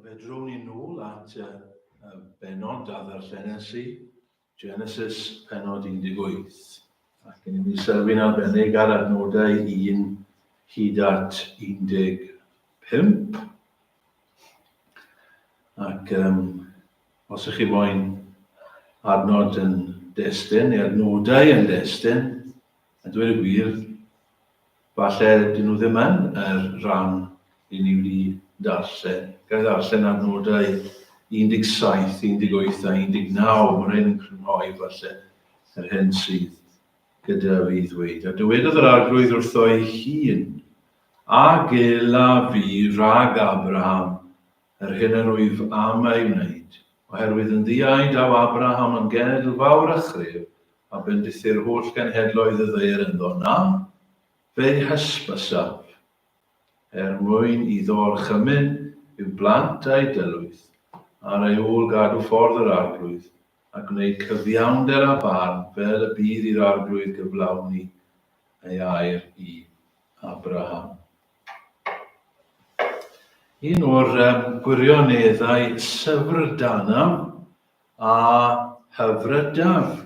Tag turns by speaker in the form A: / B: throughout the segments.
A: Fe drwn ni nôl at y, y benod a ddarllenes i Genesis, penod 18. Ac yn mynd i sylwi'n arbennig ar adnodau 1 hyd at 15. Ac um, os ych chi moyn adnod yn destyn, neu adnodau yn destyn, A dweud y gwir, falle dyn nhw ddim yn yr rhan i ni wedi darllen. Gael darllen ar nodau 17, 18 a 19, mae rhain yn crynhoi falle yr hyn sydd gyda fi ddweud. A dywedodd yr arglwydd wrtho ei hun, a gela fi rhag Abraham yr hyn yr wyf am ei wneud, oherwydd yn ddiau daw Abraham yn genedl fawr a chref, a bendithi'r holl genhedloedd y ddaear ynddo, na, fe'i hysbysaf, er mwyn iddo orchymyn i'w blant a'i dylwyth, ar ei ôl gadw ffordd yr Arglwydd, a gwneud cyfiawnder â barn, fel y bydd i'r Arglwydd gyflawni ei air i Abraham. Un o'r um, gwirioneddau syfrdana A hyfrydaf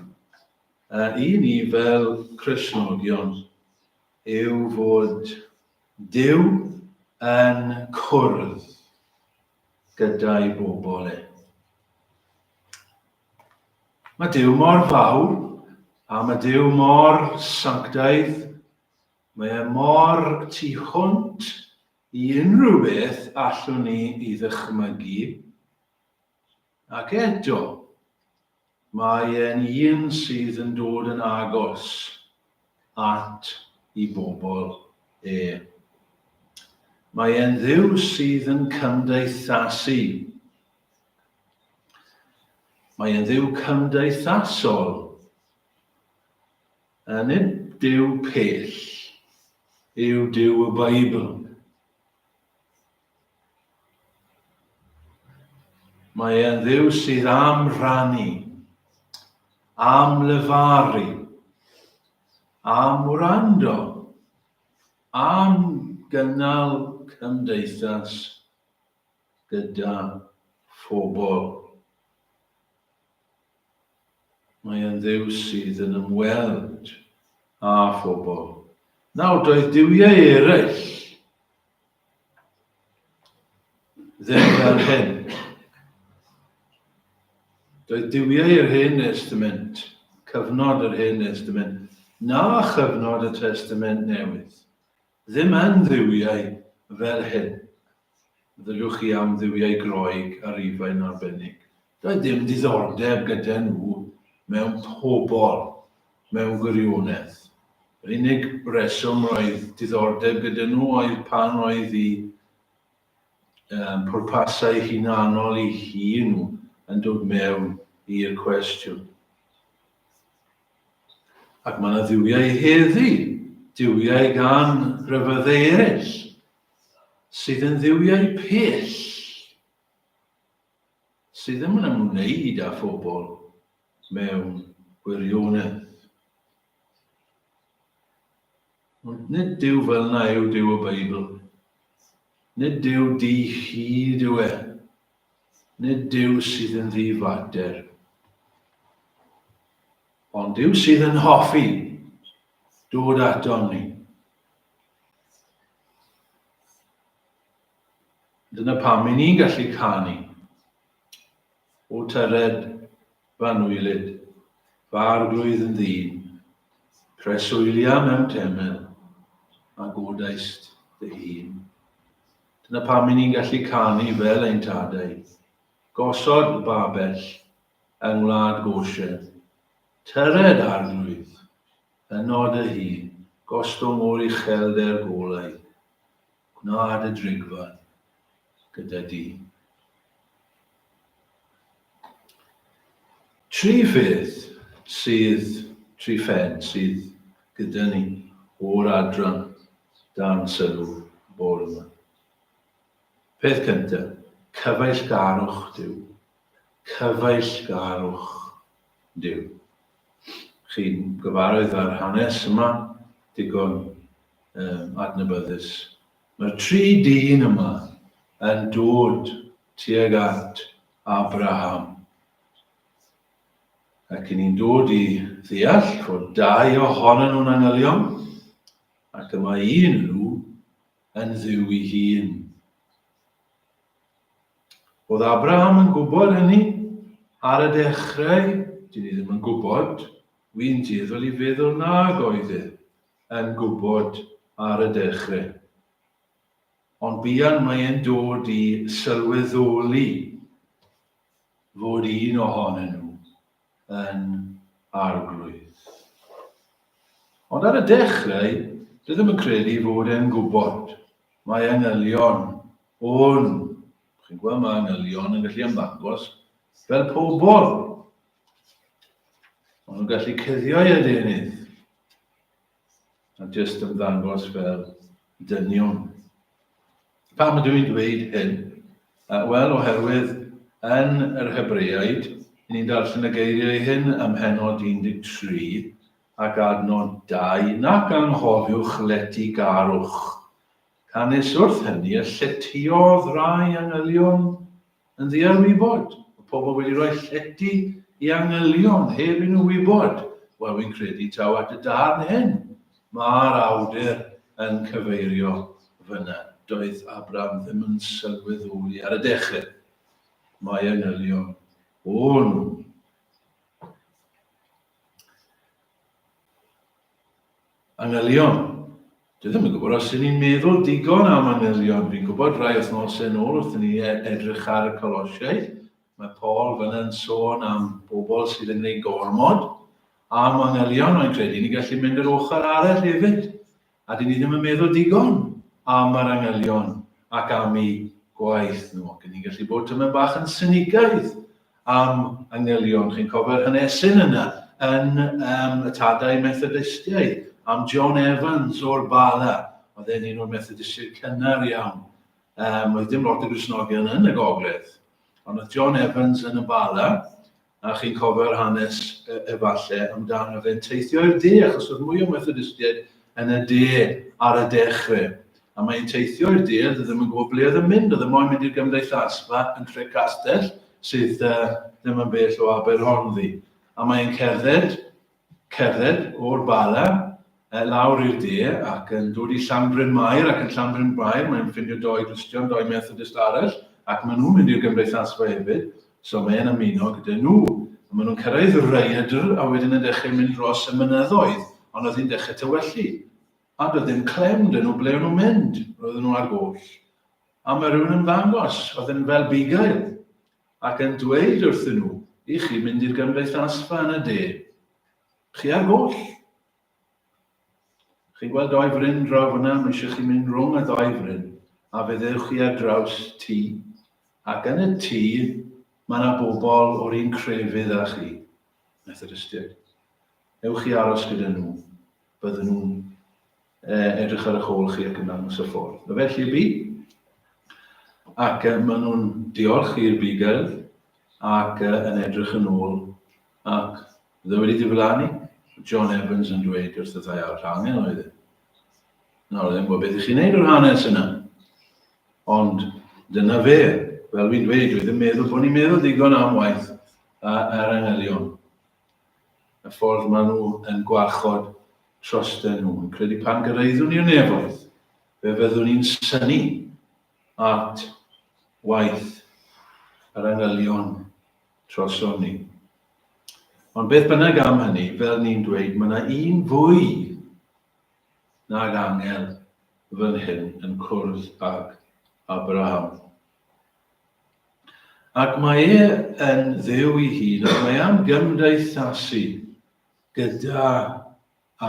A: i ni fel Cristnogion yw fod Duw yn cwrdd gyda'i bobl e. Mae Duw mor fawr a mae Duw mor sanctaidd, mae e mor tu hwnt i unrhyw beth allwn ni i ddychmygu, Ac eto, mae e'n un sydd yn dod yn agos at i bobl e. Mae e'n Dduw sydd yn cymdeithasu. Mae e'n Dduw cymdeithasol. A nid Duw pell yw Duw y Beibl. Mae e'n dduw sydd am rannu, am lefaru, am wrando, am gynnal cymdeithas gyda phobl. Mae e'n dduw sydd yn ymweld â phobl. Nawr, doedd duwiau eraill Ddim fel hyn. Doedd duwiau yr Hen Estament, cyfnod yr Hen Estament, na chyfnod y Testament Newydd, ddim yn dduwiau fel hyn. Ddylwch chi am dduwiau Groeg a Rufain arbennig. Doedd dim diddordeb gyda nhw mewn pobl, mewn gwirionedd. Yr unig reswm roedd diddordeb gyda nhw oedd pan oedd eu um, pwrpasau hunanol i hi nhw yn dod mewn i'r cwestiwn. Ac mae yna ddiwiau heddi, diwiau gan rhyfyddau eraill, sydd yn ddiwiau pell sydd yn ymwneud â phobl mewn gwirionedd. Ond nid Duw fel na yw Duw y Beibl. Nid Duw di chi dyw e. Nid Duw sydd yn ddifater. Ond Duw sydd yn hoffi dod ato ni. Dyna pam 'y ni'n gallu canu O tyred Fanwylyd, fy arglwydd yn ddyn, Preswylia mewn temel, a godaist dy hun. Dyna pam 'y ni'n gallu canu fel ein tadau, Gosod y babell yng ngwlad Goshen, Tyred arglwydd, yno dy hun, Gostwng o'r uchelder golau. Gwnaed y drigfad gyda di. Tri ffyrdd sydd, tri phen sydd gyda ni o'r adran dan sylw bore yma. Peth cyntaf, cyfeillgarwch Duw. Cyfeillgarwch Duw. Chi'n gyfarwydd â'r hanes yma, digon um, adnabyddus. Mae'r tri dyn yma yn dod tuag at Abraham. Ac yn ni'n dod i ddeall fod dau ohono nhw'n angylion, ac y mae un nhw yn ddiw i hun. Oedd Abraham yn gwybod hynny? Ar y dechrau, dyn ni ddim yn gwybod. Wy'n dueddol i feddwl nag oedd e yn gwybod ar y dechrau. Ond buan mae e'n dod i sylweddoli fod un ohonyn nhw yn Arglwydd. Ond ar y dechrau, rydym yn credu fod e'n gwybod. Mae angylion o'n, chi'n gweld mae angylion yn gallu ymddangos fel pobl. Ond nhw'n gallu cuddio i adenydd. a jyst ymddangos fel dynion. Pam ydw i'n dweud hyn? Wel, oherwydd yn yr Hebreaid, ni'n darllen y geiriau hyn ym Mhenod 13 ac adnod 2, nac anghofiwch lety garwch. Canys wrth hynny y lletyodd rai angylion Yn ddiarwybod, y pobl wedi rhoi llety i angylion heb i nhw wybod, wel fi'n credu taw at y darn hyn mae'r awdur yn cyfeirio fyna. Doedd Abram ddim yn sylweddoli ar y dechrau mai angylion o'n nhw. Manylion. Dwi ddim yn gwybod os 'yn ni'n meddwl digon am manylion. Fi'n gwybod rai wythnosau nôl wrth i ni e- edrych ar y Colosiaid, mae Paul fyna'n sôn am bobl sydd yn gwneud gormod a manylion, ond credu ni'n gallu mynd yr ochr arall hefyd, a dyn ni ddim yn meddwl digon am yr angylion ac am eu gwaith nhw, ac ni'n gallu bod tymed bach yn sinigaidd am angylion, chi'n cofio'r hanesyn yna yn um, y tadau Methodistiaid, am John Evans o'r Bala, oedd e'n un o'r Methodistiaid cynnar iawn. Um, oedd dim lot o grisnogion yn y gogledd, ond oedd John Evans yn y Bala, a chi'n cofio'r hanes e, efallai amdano fe'n teithio i'r de, achos oedd mwy o Methodistiaid yn y de ar y dechrau. A mae hi'n teithio i'r duedd, oedd ddim yn gwybod ble oedd yn mynd, oedd e moyn mynd i'r gymdeithasfa yn Tre'castell, sydd yy ddim yn bell o Aberhonddu. A mae e'n cerdded, cerdded o'r Bala yy lawr i'r de ac yn dod i Llanbryn Mair ac yn Llanbryn Mair mae'n ffindio doi Gristion, doi Methodist arall ac maen nhw'n mynd i'r gymdeithasfa hefyd, so mae e'n ymuno gyda nhw. A maen nhw'n cyrraedd Rhaeadr a wedyn yn dechrau mynd dros y mynyddoedd, ond oedd hi'n dechrau tywellu. A doedd dim clem 'da nhw ble o'n nhw'n mynd, roedden nhw ar goll. A mae rhywun yn ymddangos, oedd yn felbugail, ac yn dweud wrthyn nhw, 'Y chi'n mynd i'r gymdeithasfa yn y de. Chi ar goll. Chi'n gweld doi fryn draw fyna, mae eisiau chi mynd rhwng y ddoi fryn, a fe ddewch chi ar draws tŷ. Ac yn y tŷ, mae yna bobl o'r un crefydd â chi, Methodistiaid. Ewch chi aros gyda nhw. bydden nhw'n uh, edrych ar y hôl chi ac yn dangos y ffordd. A felly bu. Ac uh, maen nhw'n diolch i'r bigel ac uh, yn edrych yn ôl ac dda wedi diflannu. John Evans yn dweud wrth y ddau ar hangen oedd e. Nawr, ddim bod beth i chi'n neud o'r hanes yna. Ond dyna fe, fel fi'n dweud, dwi ddim meddwl bod ni'n meddwl digon am waith ar angylion. y ffordd maen nhw yn gwarchod trosten nhw, yn credu pan gyrraeddwn i'r nefoedd, fe fyddwn i'n synu at waith yr angylion troson ni. Ond beth bynnag am hynny, fel ni'n dweud, mae yna un fwy nag angel fan hyn yn cwrdd ag Abraham. Ac mae e yn Dduw ei hun, ac mae am gymdeithasu gyda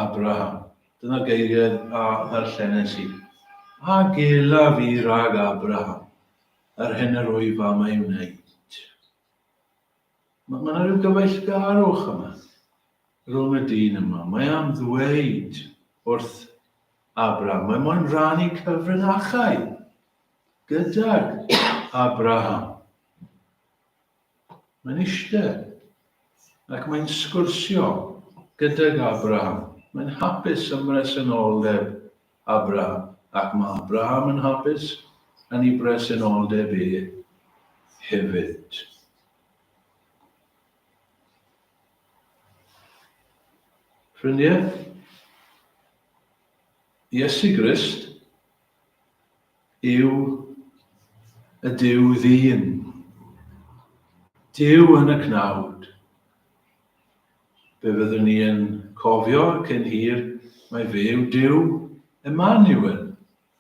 A: Abraham. Dyna geiriau a ddarllenes i. A gelaf i rag Abraham, yr hyn yr wyf am ei wneud. Mae yna rhyw gyfeillgarwch yma rhwng y dyn yma. Mae am ddweud wrth Abraham, mae moyn rannu cyfrinachau gydag Abraham. Mae'n eistedd ac mae'n sgwrsio gydag Abraham. Mae'n hapus ymresoldeb Abraham, ac mae Abraham yn hapus yn ei bresenoldeb e hefyd. Ffrindiau, Iesu Grist yw y Duw ddyn. Duw yn y cnawd. Fe fyddwn ni yn cofio cyn hir mai fe yw Duw Emaniwel,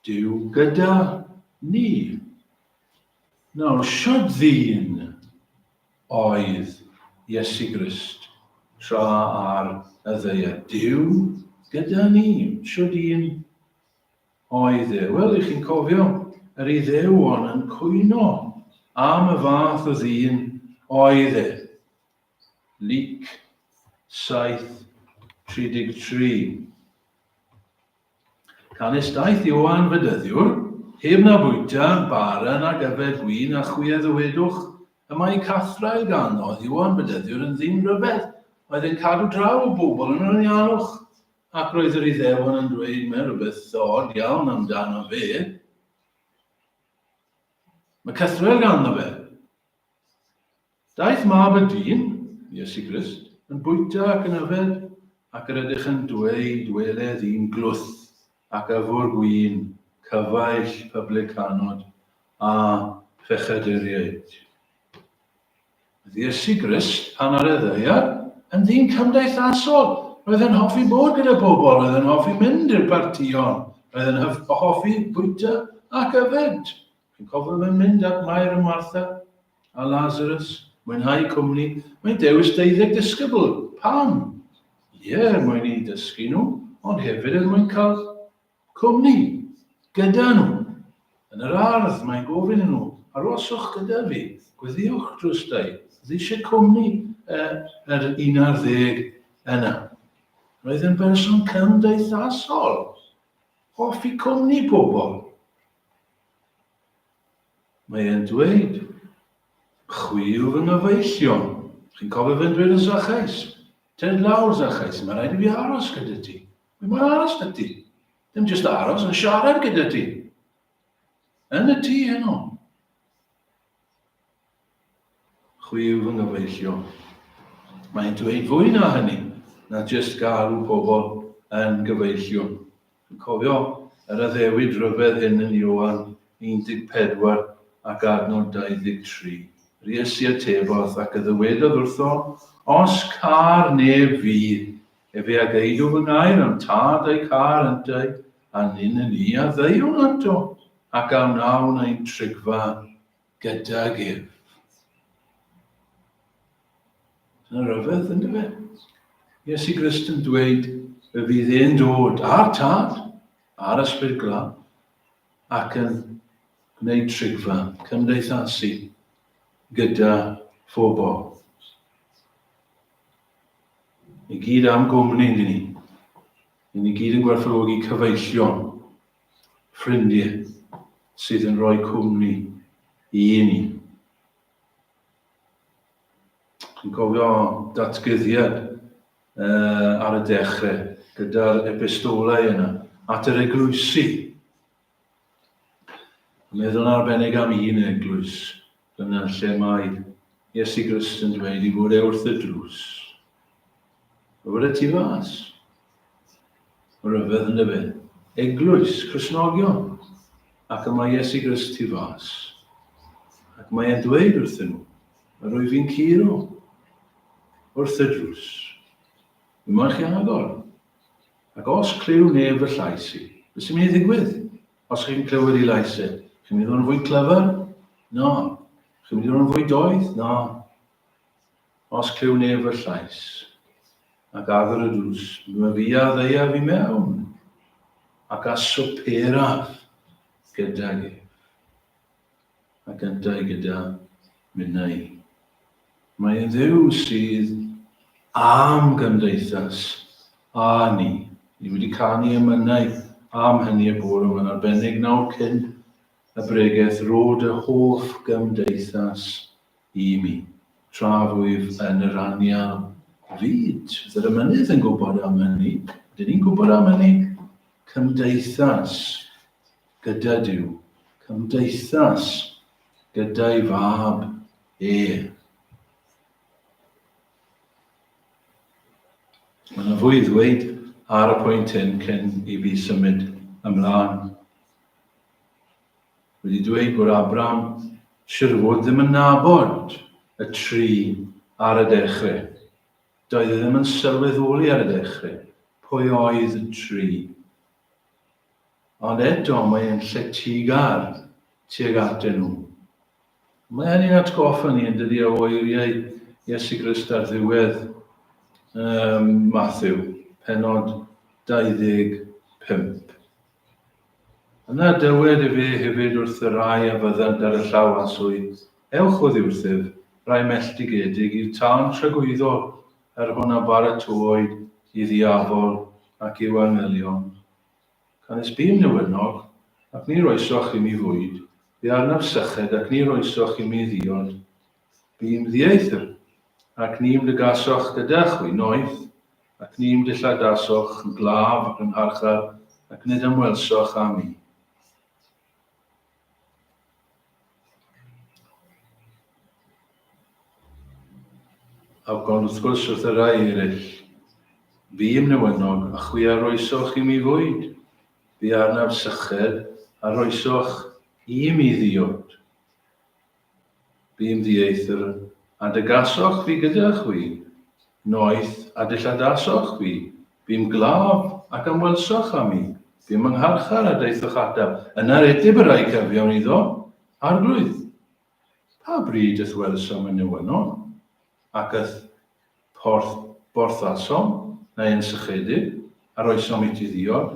A: Duw gyda ni. Nawr, shwd ddyn oedd Iesu Grist tra ar y ddaear? Duw gyda ni. Shwd un oedd e? Wel, ych chi'n cofio, yr Iddewon yn cwyno am y fath o ddyn oedd e. Luc 7:33. Canys daeth Ioan Fedyddiwr, heb na fwyta, bara nag yfed win, a chwi a ddywedwch, Y mae cathrau gan, oedd Ioan Fedyddiwr yn ddyn rhyfedd, oedd yn cadw draw y bobl yn yr anialwch, ac roedd yr Iddewon yn dweud, Mae rhywbeth od iawn am dano fe. Mae cythrwel ganddo fe. Daeth mab y dyn, Iesu Grist, yn bwyta ac yn yfed, ac yr ydych yn dweud, Weled i'n glwth ac yfwr gwin, cyfaill pyblycanod a phechaduriaid. Oedd Iesu Grist, pan ar y ddaear, yn ddyn cymdeithasol. Roedd yn hoffi bod gyda pobl, roedd yn hoffi mynd i'r partïon, roedd yn hoffi bwyta ac yfed. Chi'n cofio fe mynd at Mair a Martha a Lazarus, mwynhau cwmni, mae'n dewis deuddeg disgybl. Pam? Ie, er mwyn i dysgu nhw, ond hefyd er mwyn cael cwmni gyda nhw. Yn yr ardd, mae'n gofyn i nhw, aroswch gyda fi, gweddiwch drwstai, oedd eisiau cwmni yr un ar ddeg yna. Roedd yn berson cymdeithasol, hoffi cwmni pobl. Mae e'n dweud, chwi yw fy nghyfeillion. Chi'n cofio fe'n dweud yn Zachais? Ted lawr, Zachais, mae rhaid i fi aros gyda ti. Fi moyn aros gyda ti. Ddim jyst aros, ond siarad gyda ti. Yn y tŷ heno. Chwi yw fy nghyfeillion. Mae'n dweud fwy na hynny na jyst galw pobl yn gyfeillion. Dwi'n cofio yr addewid rhyfedd hyn yn Ioan 14 ac adnod 23. Yr Iesu atebodd ac y ddywedodd wrtho, Os câr neb fi, efe a geidw fy ngair am tad a'i câr yntau, a nyn yn i a ddeuwn ato, ac a wnawn ein trigfa gydag ef. Dyna rhyfedd, ynddo fe? Iesu Grist yn dweud y fydd e'n dod a'r tad, a'r ysbryd glaf, ac yn gwneud trigfa cymdeithasu gyda phobl. I gyd am gwmni, ni. Yn i gyd yn gwerthfawrogi cyfeillion ffrindie sydd yn rhoi cwmni i ni. Chi'n cofio datgyddiad uh, ar y dechrau gyda'r epistolau yna at yr eglwysi. Meddwl arbennig am un eglwys. Dyna lle mae Iesu Grist yn dweud i fod e wrth y drws. A fod y tu fas. Mae rhyfedd yn dyfe. Eglwys, Cresnogion. Ac y mae Iesu Grist tu fas. Ac mae e'n dweud wrthyn nhw, a rwyf fi'n curo wrth y drws. Yma chi agor. Ac os clyw neb y llais i, beth sy'n mynd i ddigwydd? Os chi'n clywed i lais e, chi'n mynd i fod yn fwy clyfar? Na. Chi'n mynd i fod yn fwy doeth? Na. Os clyw neb fy llais, ac agor y dwys, mae fi a ddeiaf i mewn, ac a swperaf gydag ef. ac yntau gyda minnau. Mae yn dduw sydd am gymdeithas a ni. Ni wedi canu y mynnau am hynny y bore yma'n arbennig nawr cyn y bregeth rod y hoff gymdeithas i mi. Tra rwyf yn yr anial fyd, yr ymynydd yn gwybod am hynny, dyn ni'n gwybod am hynny, cymdeithas. Gyda Duw. Cymdeithas. Gyda'i Fab e. Mae yna fwy i ddweud ar y pwynt hyn cyn i fi symud ymlaen. Wedi dweud bod Abraham siwr o fod ddim yn nabod y tri ar y dechrau. Doedd e ddim yn sylweddoli ar y dechrau pwy oedd y tri Ond eto mae e'n lletygar tuag atyn nhw. Mae hynny'n atgoffa ni, yn dydy, o eiriau Iesu Grist ar ddiwedd um, Matthew, penod 25. Yna dywed y fe hefyd wrth y rai a fyddant ar y llaw aswy, Ewch oddi wrthyf, rai melltigedig, i'r tân tragwyddol, Er hwn a baratoaid i ddiafol ac i'w anghelion. Canys bûm newynog, ac ni roesoch i mi fwyd, bu arnaf syched ac ni roesoch i mi ddiod. Bûm ddieithr, ac ni ymddygasoch gyda chwi, noeth, ac ni ymdylladasoch yn glaf ac yn ngharchar, ac nid ymwelsoch â mi. Ac ond wrth gwrs wrth y rai eraill, fîm newynog, a chwi a roesoch i mi fwyd, bu arnaf syched, a roesoch i mi ddiod. Bu'n ddieithr, a dygasoch fi gyda chwi, noeth, a dilladasoch fi, bu'n glaf, ac ymwelsoch â mi, bu'n fy ngharchar, a daethoch ata. Yna redib y rhai cyfiawn iddo, Arglwydd, pa bryd y'th welsom yn newynon, ac y'th porth borthasom, neu yn sychedig, a roesom iti ddiod?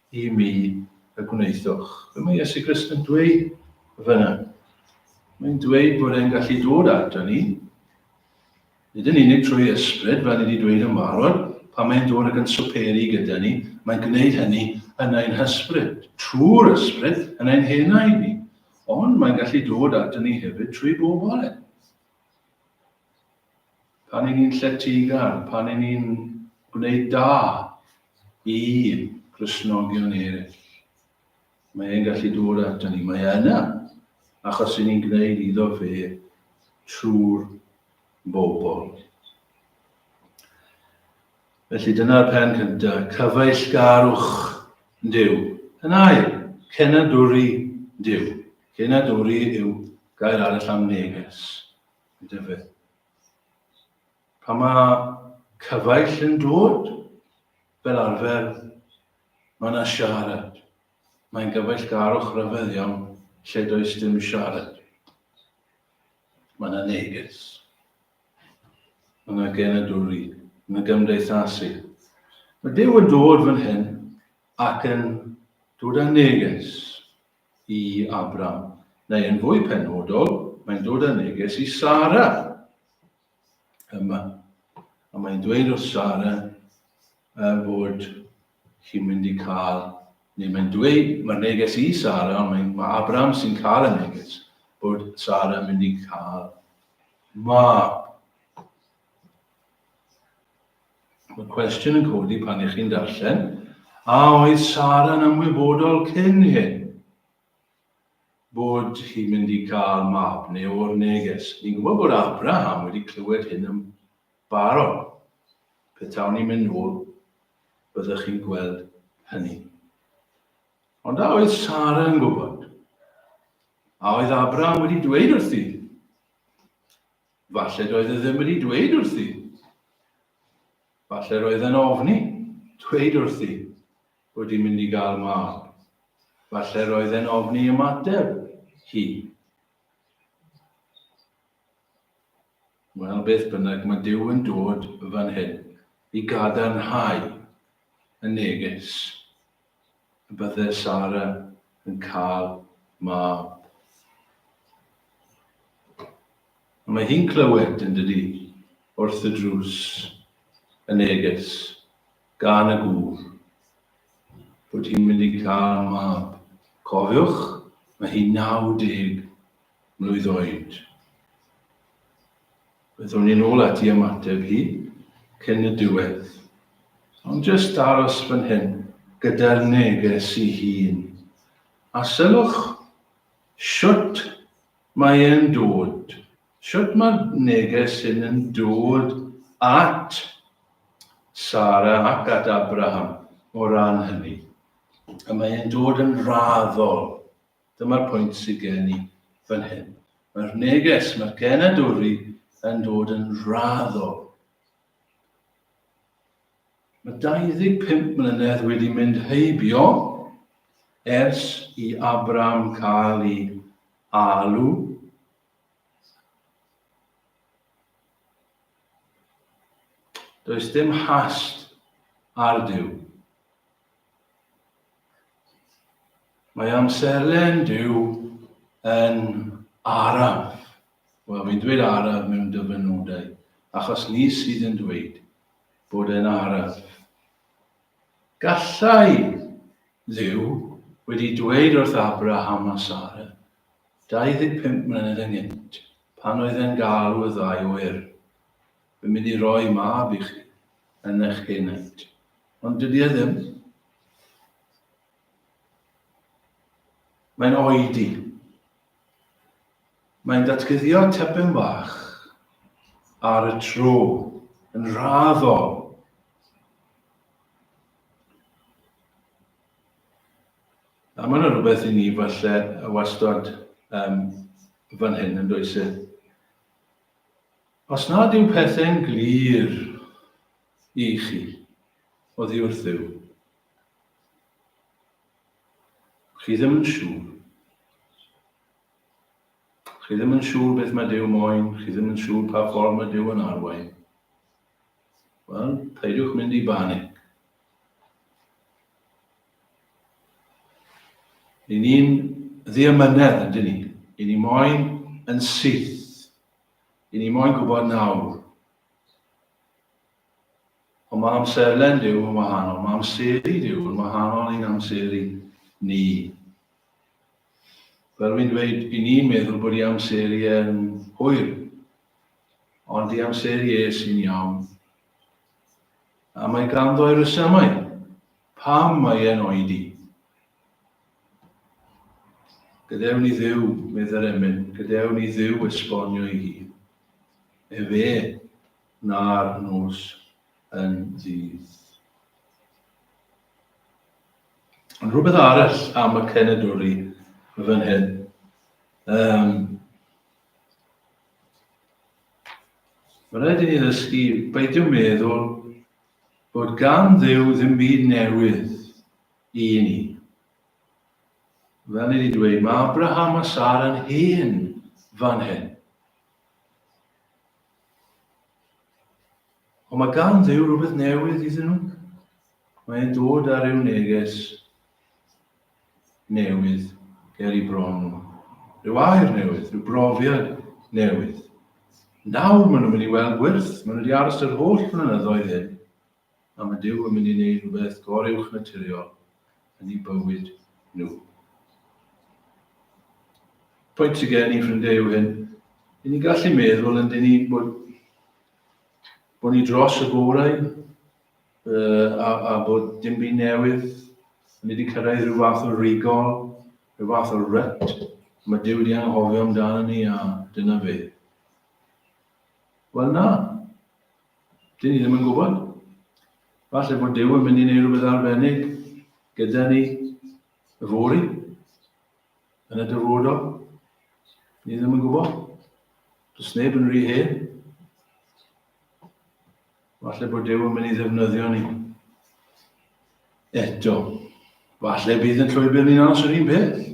A: i mi y gwnaethwch. Be mae Iesu Grist yn dweud fyna? Mae'n dweud bod e'n gallu dod ato ni, nid yn unig trwy ysbryd, fel ni wedi dweud yn fawr, pan mae'n dod ac yn swperu gyda ni, mae'n gwneud hynny yn ein hysbryd, trwy'r ysbryd yn ein henau ni. Ond mae'n gallu dod ato ni hefyd trwy bobl e. pan y'n ni'n lletygar, pan y'n ni'n gwneud da i Gristnogion eraill, mae e'n gallu dod ato ni. Mae e yna, achos y'n ni'n gwneud iddo fe trwy'r bobl. Felly dyna'r pen cyntaf, cyfeillgarwch Duw. Yn ail, cenadwri Duw. Cenadwri yw gair arall am neges. Dyfed. Pa mae cyfaill yn dod, fel arfer, mae yna siarad. Mae'n gyfaill-garwch rhyfedd iawn lle does dim siarad. Mae yna neges. Mae yna genedwri yn y gymdeithasu. Mae Dyw yn dod fan hyn ac yn dod â neges. i Abram, neu yn fwy penodol, mae'n dod â neges i Sara yma. A mae'n dweud wrth Sara uh, bod chi'n mynd i cael, neu mae'n dweud, mae'r neges i Sara, ond mae, mae Abram sy'n cael y neges, bod Sara yn mynd i cael mab. Mae cwestiwn yn codi pan ych chi'n darllen, a oedd Sara'n ymwybodol cyn hyn bod hi'n mynd i gael mab neu o'r neges? Ni'n gwybod bod Abraham wedi clywed hyn yn barod. Petawn ni'n mynd nôl, byddwch chi'n gweld hynny. Ond a oedd Sara yn gwybod? A oedd Abraham wedi dweud wrthi? Falle doedd e ddim wedi dweud wrthi. Falle roedd e'n ofni, dweud wrthi, bod i'n mynd i gael mab. Falle roedd e'n ofni ymateb hi. Wel, beth bynnag, mae Dyw yn dod fan hyn i gadarnhau y neges. y bydde Sara yn cael mab. Ond mae hi'n clywed, yn dydy, wrth y drws, y neges, gan y gŵr, bod hi'n mynd i cael mab. Cofiwch, mae hi 90 mlwydd oed. Byddwn i'n ôl ati ymateb hi cyn y diwedd. Ond jyst aros fan hyn gyda'r neges i hun. A sylwch shwt mae e'n dod, shwt mae'r neges hyn yn dod at Sara ac at Abraham o ran hynny. A mae e'n dod yn raddol. Dyma'r pwynt sydd gen i fan hyn. Mae'r neges, mae'r genadwri yn dod yn raddol. Mae 25 mlynedd wedi mynd heibio ers i Abram cael ei alw Does dim hast ar Duw. Mae amserlen Duw yn araf. Wel, fi'n dweud araf mewn dyfynodau, achos ni sydd yn dweud bod e'n araf. Gallai Dduw wedi dweud wrth Abraham a Sara, 25 mlynedd yn gynt, pan oedd e'n galw y ddau oer, Fy myn i roi mab i chi yn eich henaint. Ond dydy e ddim. Mae'n oedi. Mae'n datguddio tepyn bach ar y tro yn raddol. A mae'n rhywbeth i ni falle wastad um, fan hyn yn does e? Os nad yw pethau'n glir i chi oddi wrth Dduw, chi ddim yn siŵr. Chi ddim yn siŵr beth mae Duw moyn, chi ddim yn siŵr pa ffordd mae Duw yn arwain. Wel, peidiwch mynd i banic. Yn ni'n ddiamynedd, ydyn ni. Yn ni moyn yn syth I ni moyn gwybod nawr. Ond mae amserlen Duw yn wahanol, mae amseru Duw yn wahanol i'n amseru ni. Fel wy'n dweud, i ni'n meddwl bod i amseru yn hwyr, ond i amseru e sy'n iawn. A mae ganddo i resymau pam mae e'n oedi. Gadewn i Dduw, medd yr emyn, gadewn i Dduw esbonio i hi. Efe na'r nos yn ddydd. Ond rhywbeth arall am y cenedwri y fan hyn. Um, Mae'n rhaid i ni ddysgu beidio meddwl bod gan ddew ddim byd newydd I ni. Fel ni wedi dweud, mae Abraham a Sara'n hen fan hyn. Ond mae gan ddew rhywbeth newydd iddyn nhw. Mae'n dod ar eu neges newydd ger i bron nhw. Rhyw air newydd, rhyw brofiad newydd. Nawr maen nhw'n mynd i weld gwyrth, maen nhw wedi aros yr holl flynyddoedd hyn, a mae Duw yn mynd i wneud rhywbeth goruwchnaturiol yn eu bywyd nhw. Pwynt sydd gen i, ffrindiau, yw hyn. I ni gallu meddwl yn dyn ni bod, bod ni dros y gorau uh, a, a bod dim byd newydd yn wedi cyrraedd rhyw fath o rigol, rhyw fath o ryt. Mae Dyw wedi anghofio amdano ni a dyna fe. Wel na, Dyn ni ddim yn gwybod. Falle bod Duw yn mynd i wneud rhywbeth arbennig gyda ni y fori, yn y dyfodol. Ni ddim yn gwybod. Does neb yn rhy hen. Falle bod Duw yn mynd i ddefnyddio ni. Eto, falle bydd yn llwybr ni'n aros yr un peth.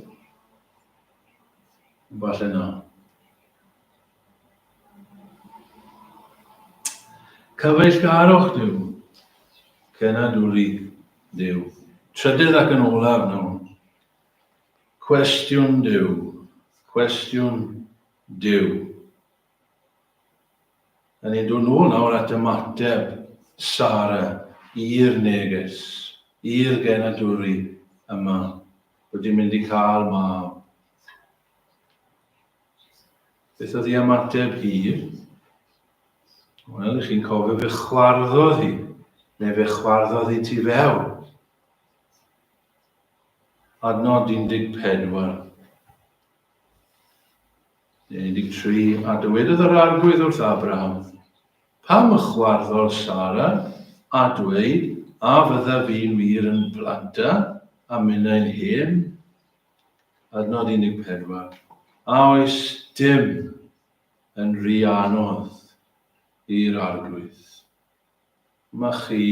A: Falle na. Cyfeillgarwch Duw, cenadwri Duw. Trydydd ac yn olaf nawr, cwestiwn Duw, cwestiwn Duw. Yn ein dod nôl nawr at ymateb Sara i'r neges, i'r genadwri yma, bod i'n mynd i cael mab. Beth oedd ei ymateb hi? Wel, chi'n cofio fe chwarddodd hi, neu fe chwarddodd hi ti fewn. Adnod 14. Neu 13, a dywedodd yr arglwydd wrth Abraham, pam y chwarddodd Sara, a dweud, a fydda fi'n wir yn planta, a minnau'n hen, Adnod 14, A oes dim yn rhy anodd i'r Arglwydd? Dyma chi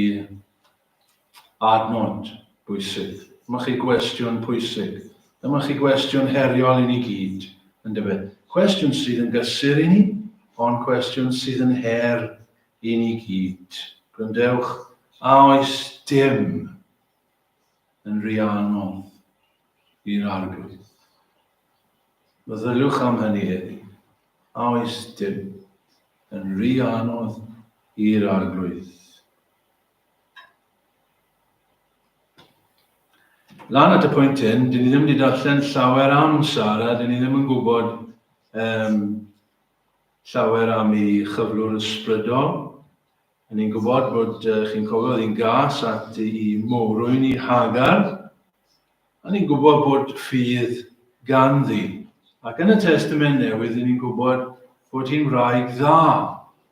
A: adnod bwysig. Dyma chi gwestiwn pwysig. Dyma chi gwestiwn heriol i ni gyd, yn dyfe? Cwestiwn sydd yn gysur i ni, ond cwestiwn sydd yn her i ni gyd. Gwrandewch, a oes dim yn rhy anodd i'r Arglwydd. Meddyliwch am hynny heddi. A oes dim yn rhy anodd i'r Arglwydd? Lan at y pwynt hyn, dyn ni ddim wedi darllen llawer am Sara, dyn ni ddim yn gwybod um, llawer am ei chyflwr ysbrydol, Yn i'n gwybod bod chi'n cofio oedd hi'n gas at i mowrwyn i Hagar. Yn i'n gwybod bod ffydd ganddi. Ac yn y Testament Newydd, yn i'n gwybod bod hi'n wraig dda.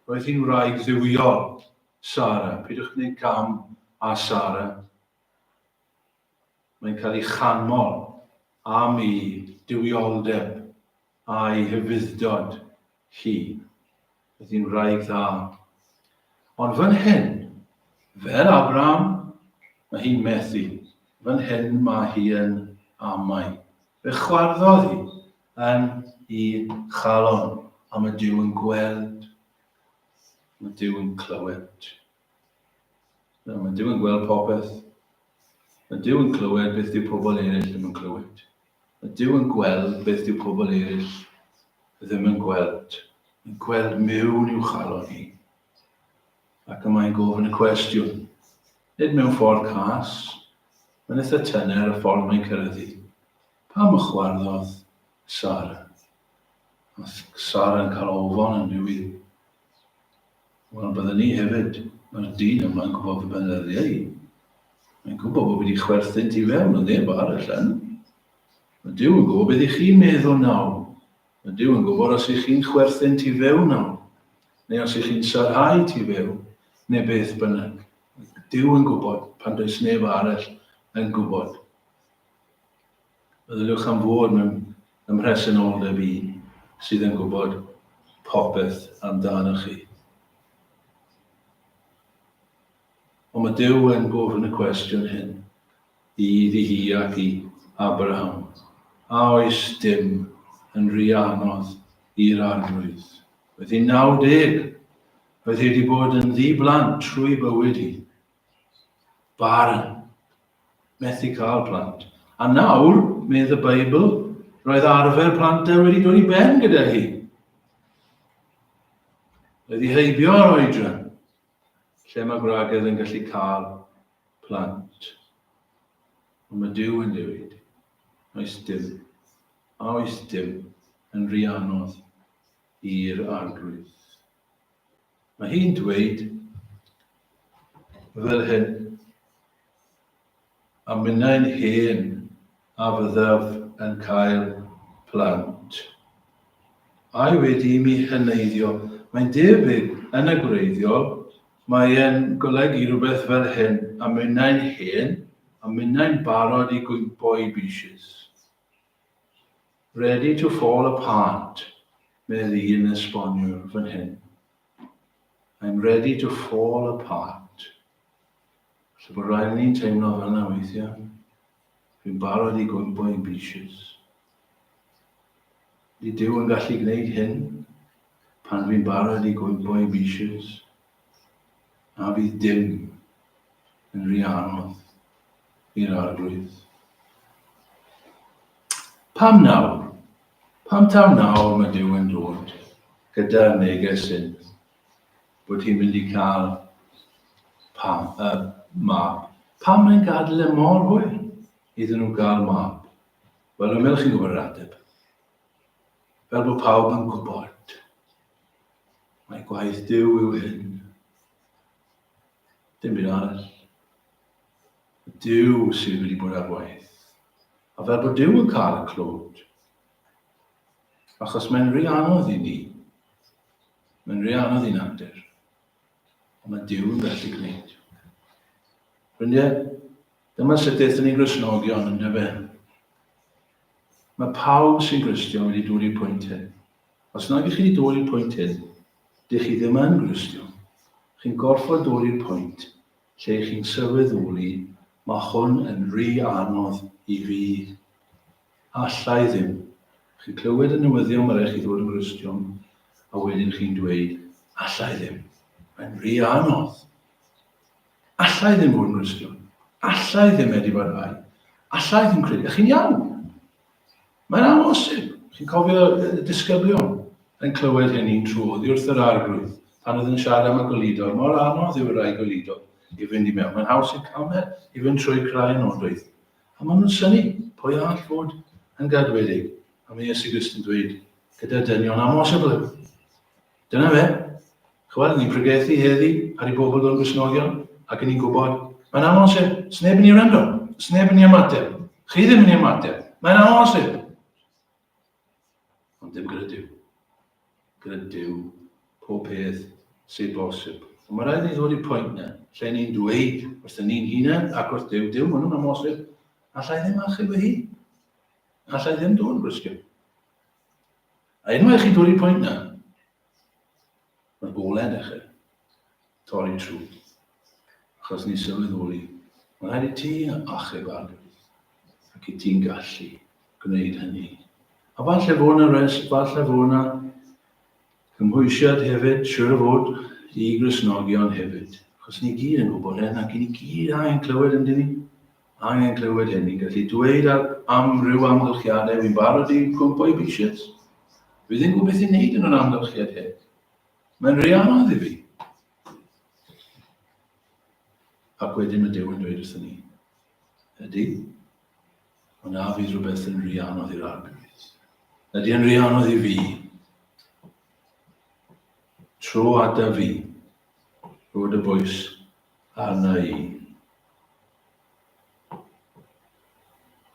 A: Roedd hi'n wraig dduwiol, Sara. Pidwch gwneud cam a Sara. Mae'n cael ei chanmol am ei duwioldeb a'i hyfuddod hi. Roedd hi'n wraig dda. Ond fan hyn, fel Abraham, mae hi'n methu. Fan hyn mae hi yn amau. Fe chwarddodd hi yn i chalon am y Duw yn gweld, am y Duw yn clywed. Nawr, mae Dyw yn gweld popeth. Mae Dyw yn clywed beth dyw pobl eraill ddim yn clywed. Mae Dyw yn gweld beth dyw pobl eraill ddim yn gweld. Mae'n gweld mewn i'w chalon hi. Ac y mae'n gofyn y cwestiwn. Nid mewn ffordd cas. Mae'n eitha tyner y ffordd mae'n cyrraedd i. Pam y chwarddodd Sara? Mae Sara yn cael ofon yn byw i. Wel, bydden ni hefyd. Mae'r dyn yma'n gwybod fy benyddiau i. Mae'n gwybod bod fi wedi chwerthynt i fewn yn neb ar y llen. Mae Dyw yn gwybod beth i chi'n meddwl nawr. Mae Dyw yn gwybod os i chi'n chwerthynt i fewn nawr, neu os i chi'n sarhau ti fewn, neu beth bynnag. Dyw yn gwybod pan does neb arall yn gwybod. Meddyliwch am fod mewn ym mhresenoldeb un sydd yn gwybod popeth amdanoch chi. Ond mae Duw yn gofyn y cwestiwn hyn i iddi hi ac i Abraham, A oes dim yn rhy anodd i'r Arglwydd? Oedd hi'n 90. Oedd hi wedi bod yn ddi-blant trwy bywyd hi. Barn. Methu cael plant. A nawr, medd y Beibl, roedd arfer plant e wedi dod i ben gyda hi. Roedd hi heibio ar oedran, lle mae gwragedd yn gallu cael plant. Ond mae Dyw yn dewid. Oes dim. A oes dim yn rhy anodd i'r arglwydd. Mae hi'n dweud fel hyn am minnau'n hen a fyddaf yn cael plant. Ai wedi i mi heneiddio? Mae'n debyg, yn y gwreiddiol, mae e'n golygu rhywbeth fel hyn, a minnau'n hen, a minnau'n barod i gwympo i bishys. Ready to fall apart, medd un esboniwr fan hyn. I'm ready to fall apart. Felly bod rhaid ni'n teimlo fel yna weithiau. Fi'n barod i gwympo i'n beaches. Di Dyw yn gallu gwneud hyn pan fi'n barod i gwympo i'n beaches. A fydd dim yn rhy anodd. i'r arglwydd. Pam nawr? Pam taw nawr mae Dyw yn dod gyda neges hyn bod hi'n mynd i cael pam, uh, mab? Pam mae'n gadael e mor hwyr iddyn nhw gael mab? Wel, y melch chi'n gwybod yr ateb. Fel bod pawb yn gwybod. Mae gwaith Dyw yw hyn. Dim byd arall. Duw sydd wedi bod ar waith. A fel bod Duw yn cael y clod. Achos mae'n rhy anodd i ni. Mae'n rhy anodd i'n natur. Ond mae Duw yn gallu gwneud. Ffrindiau, dyma sut ddeithon ni grisnogion yn dyfe. Mae pawb sy'n gristio wedi dod i'r pwynt hyn. Os nad ydych chi wedi dod i'r pwynt hyn, dych chi ddim yn gristio. Chi'n gorfod dod i'r pwynt Lle chi'n sylweddoli, mae hwn yn ry anodd i fi. Alla i ddim. Chi'n clywed y newyddion mae rhaid chi ddod yn Gristion, a wedyn chi'n dweud, Alla i ddim. Mae'n ry anodd. Alla i ddim fod yn Gristion. Alla i ddim edifarhau. Alla i ddim credu. A chi'n iawn. Mae'n amhosib! Chi'n cofio y disgyblion yn clywed hyn un tro oddi wrth yr Arglwydd, pan oedd yn siarad am y gwlidor, mor anodd yw y rhai gwlidor i fynd i mewn, mae'n haws i'r calmer i fynd trwy craen o'n doeth. A maen nhw'n synnu, pwy all fod yn gadwedig? A mae Iesu Grist yn dweud, gyda dynion amhosibl yw. Dyna fe. Ch'wel, ni'n pregethu heddi ar i bobl o'n Gristnogion, ac yn ni'n gwybod, mae'n amhosib, sneb yn ni wrando, sneb yn ni ymateb, chi ddim yn ni ymateb, mae'n amhosib. Ond dim gyda Dyw. Gyda Dyw, pob peth sy'n bosib. Ond mae rhaid ni ddod i'r pwynt na, lle ni'n dweud wrth y ni'n hunain ac wrth Dyw, Dyw, maen nhw'n amhosib, allai ddim achub ei hun. Allai ddim dod yn Gristion. A unwaith chi bwrw pwynt na, mae'r gol yn dechrau torri trwy. Achos ni sylweddoli, mae rhaid i ti achub arglwydd, ac i ti'n gallu gwneud hynny. A falle fod yna res, falle fod yna cymhwysiad hefyd, siwr o fod, i grisnogion hefyd. Achos ni gyd yn gwybod hyn, ac i ni gyd angen clywed yn dyn ni. angen clywed hyn i gallu dweud ar amryw amgylchiadau wy'n barod i gwmpo i bishets. Fi ddim gwybod beth i'n neud yn yr amgylchiad hyn. Mae'n rhy anodd i fi. Ac wedyn mae Duw yn dweud wrthyn ni, ydy, ond na fydd rhywbeth yn rhy anodd i'r arglwydd. Ydy yn rhy anodd i fi. Tro ada fi, rwyd y bwys arna i.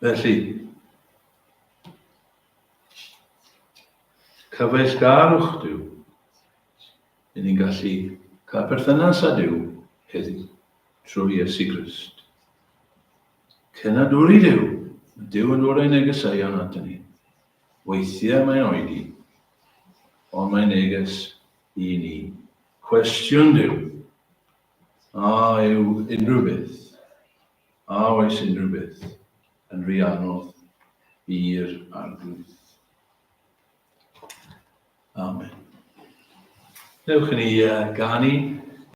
A: Felly, cyfeillgarwch Dyw. Rydyn ni'n gallu cael perthynas â Dyw heddiw trwy Iesu Grist. Cenadwri Dyw, mae Dyw yn dod ei negeseuon at ni. Weithiau mae'n oedi, ond mae'n neges i ni. Cwestiwn Dyw, A yw unrhyw beth, a oes unrhyw beth, yn rhy anodd i'r Arglwydd? Amen. Dewch i ni uh, ganu.